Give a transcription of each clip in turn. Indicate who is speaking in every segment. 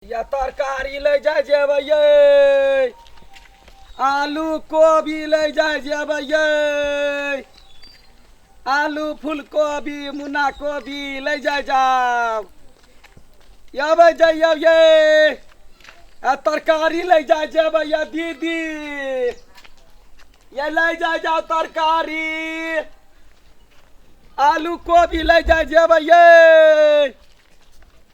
Speaker 1: या तरकारी ले जाय जेबै यै आलू कोबी ले जाय जेबै यै आलू फूलकोबी मुन्ना कोबी ले जाय जाओ यबै जइयौ यै आ तरकारी ले जाय जेबै या दीदी ये ले जाय जाओ तरकारी आलू कोबी ले जाय जेबै यै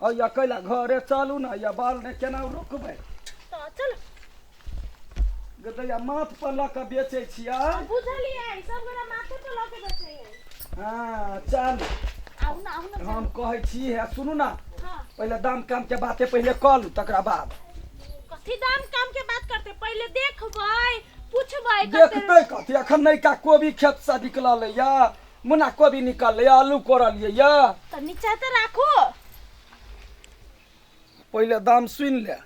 Speaker 2: अय्या कैला
Speaker 1: घरे चलू ना अय्या बाल ने केना रोकबै तऽ चल गदैया माथ पर लऽ कऽ बेचै छियै बुझलियै सब गोरा माथे
Speaker 2: पर लऽ के बैठे है हाँ चल
Speaker 1: आउ ना आउ ना
Speaker 2: हम कहै छी
Speaker 1: हे सुनू ना हाँ पहिले दाम
Speaker 2: काम के
Speaker 1: बाते पहिले कऽ लू तकरा बाद कथी दाम
Speaker 2: काम के बात करते पहिले देखबै पूछबै कते देखतै कथी
Speaker 1: अखन नयका कोबी खेत से निकलल अय्या मुना कोबी निकललै आलू कोड़लियै यऽ तऽ नीचा तऽ
Speaker 2: राखू
Speaker 1: पहिले दाम सुनि ले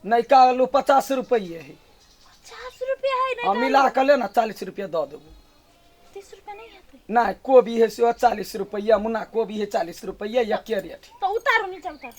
Speaker 1: नयका आलू पचास रुपैए है पचास
Speaker 2: रुपया है आ मिला कऽ ले ने
Speaker 1: चालीस
Speaker 2: रुपैए
Speaker 1: दऽ देबू तीस
Speaker 2: रुपया नहीं हेतै नहि कोबी है सेहो
Speaker 1: चालीस रुपैए मुना कोबी है चालीस रुपैए एके रेट है। तऽ उतारू नीचा
Speaker 2: उतारू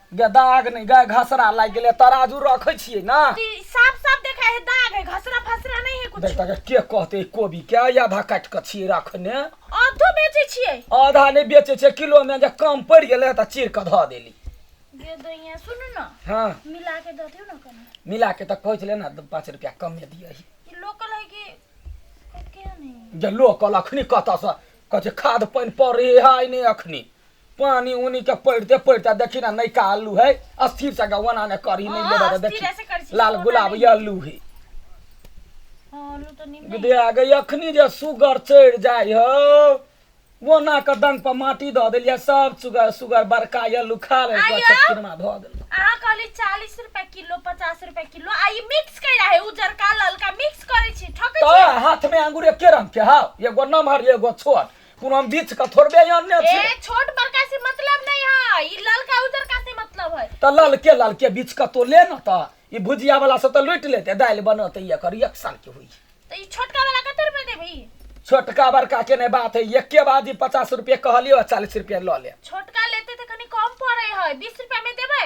Speaker 2: गे दाग नहि
Speaker 1: गे घसरा लागि गेलै तराजू रखै छियै ने ई साफ साफ देखा
Speaker 2: है दाग है घसरा फसरा नहीं है कुछ देख तक के कहते
Speaker 1: ई कोबी के आधा काटि कऽ छियै रखने अधो बेचे
Speaker 2: छियै आधा नहि बेचै छै
Speaker 1: किलो मे जे कम पड़ि गेलै तऽ चीर कऽ धऽ देली गे दैया
Speaker 2: सुनू ने हँ मिला के
Speaker 1: दऽ दियौ ने
Speaker 2: कनी मिला के तऽ कहै छलै
Speaker 1: ने दू पाँच रुपया कमे दियही ई लोकल है कि के
Speaker 2: नहीं जे लोकल अखनी
Speaker 1: कतऽसँ कहै छै खाद पानि पड़ै है नहि अखनी पानी उनी के पड़ते पड़ते देखी ना नहीं का आलू है अस्थिर से गवना ने करी नहीं हाँ, लेबा अस्थिर देखी ऐसे करी छी,
Speaker 2: लाल
Speaker 1: छोटा
Speaker 2: गुलाब नहीं। ये आलू है
Speaker 1: हाँ, आलू
Speaker 2: तो निम्न है। दे आ गई अखनी जे
Speaker 1: सुगर चढ़ जाय हो वना के दंग पर माटी धऽ देलियै सब सुगर सुगर बड़का ये आलू खा ले आइयो। किरमा धऽ देलियै अहाँ कहली
Speaker 2: चालीस
Speaker 1: रुपए किलो
Speaker 2: पचास रुपए किलो आ ई मिक्स कहि रहा है उजरका ललका मिक्स करै छी ठकै छी तोहर हाथमे अंगूर
Speaker 1: एके
Speaker 2: रंग
Speaker 1: के हौ एगो नमहर एगो छोट कोनो हम बीच के थोड़बे आनने ए छी छोट बड़का से
Speaker 2: मतलब नहीं है ई ललका उजरका से मतलब है तऽ ललके ललके
Speaker 1: बीच के तो ले न तऽ ई भुजिया वाला से तऽ लूटि लेते दालि बनत ई एकर एक साल के होई तो ई छोटका वाला
Speaker 2: कते रुपए देबी छोटका बड़का
Speaker 1: के ने बात है एके बार जी पचास रुपये कहलियो चालीस रुपये लऽ ले छोटका लेते तो कनी
Speaker 2: कम पड़े है बीस रुपया में देबै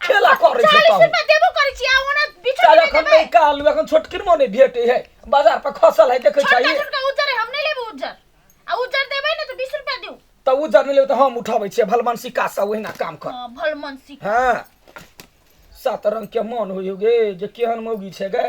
Speaker 1: खेला करै छै चालीस रुपया देबो करै छी आ
Speaker 2: ओना बिछो चाल के एखन देबै नहीं कहलू
Speaker 1: एखन छोटकिन मोने भेटे है बाजार पर खसल है देखे छोटका चाहिए छोटका उज्जर है, हम
Speaker 2: नहीं
Speaker 1: लेबो
Speaker 2: उज्जर आ उज्जर देबै ने तो बीस रुपया दिउ तब उ जर मिले तो हम
Speaker 1: उठाबै छियै भलमान सिक्का सब ओहिना काम कर हाँ, भल मन सीख हाँ सात रंग के मन हो गे जे केहन मौगी छै गे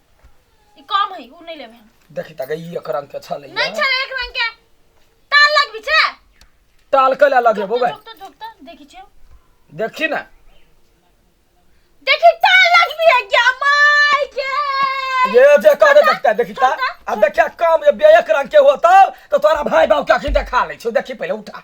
Speaker 2: ई कम है उ नहीं लेबे हम देखी तक ई एक रंग
Speaker 1: के छले नहीं छले एक रंग के
Speaker 2: ताल लगबी छे टाल के अलग
Speaker 1: है बोबे झोकता झोकता देखी छे
Speaker 2: देखी ना देखी ताल लगबी है क्या माय के ये जे
Speaker 1: कह दे देखता देखी ता अब देखिया कम ये एक रंग के होता तो तोरा भाई बाप के आखिर देखा ले छो देखी पहले उठा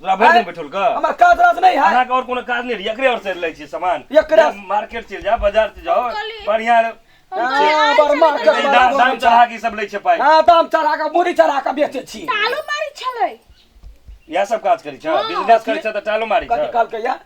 Speaker 1: तोरा भरि आँय? दिन बैठल कऽ
Speaker 3: हमर काज राज नहि है
Speaker 1: अहाँके आओर कोनो काज नहि रहै
Speaker 3: एकरे आओर से लै छियै सामान एकरा- जा, मार्केट
Speaker 1: चलि जा बाजार
Speaker 3: चलि जाओ कहली- बढ़िया हाँ, बड़ मार्केट
Speaker 1: ई वाला दाम दाम बोलै चढ़ा छै। के ई सब
Speaker 3: लै छै पाइ हाँ, दाम चढ़ा के मुड़ी
Speaker 1: चढ़ा के बेचे छी तालो मारी छलै
Speaker 2: इएह सब
Speaker 3: काज करै छै बिजनेस करै छै तऽ टालो मारी कथी छै कहलकै या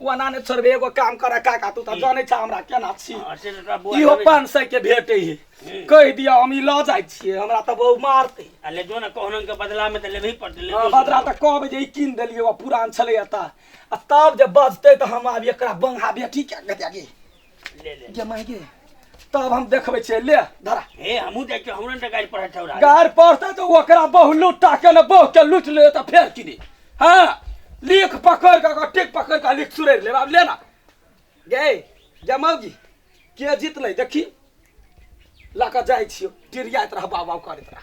Speaker 1: कोना ने छोड़बे एगो काम कर काका तू तऽ जानै छा हमरा केना छी हँ, से तऽ तोरा बौआ इहो जानै पाँच सए के भेटे हे हूँ। कहि दिअ हम ई लऽ जाइ छियै हमरा तऽ बहु मारतै छै। आ ले जो ने कहनन
Speaker 4: के बदला में तऽ लेबही पड़तै ले हँ, जो। बदरा तऽ कहबै जे ई
Speaker 1: कीन देलियै ओ पुरान छलै एतऽ आ तब जे बजतै तऽ हम आब एकरा बंगा बेटी के कऽ देलियै ले ले जे
Speaker 4: माय गे
Speaker 1: तब हम देखबै छियै ले धरा हे हमहूँ जाइ छियौ
Speaker 4: हमरा ने गाड़ी पर ठौरा गार पड़तै तऽ
Speaker 1: ओकरा बहु लुट्टा के ने बहु के लुटि ले तऽ फेर की दे हाँ लिख पकड़ के ओकर टिक पकड़ के लिख सुरैर लेब आब ले ना गे जमाउ जी के जीतलै देखी लऽ कऽ जाइ छियौ टिरियाइत रह बाबा करैत रह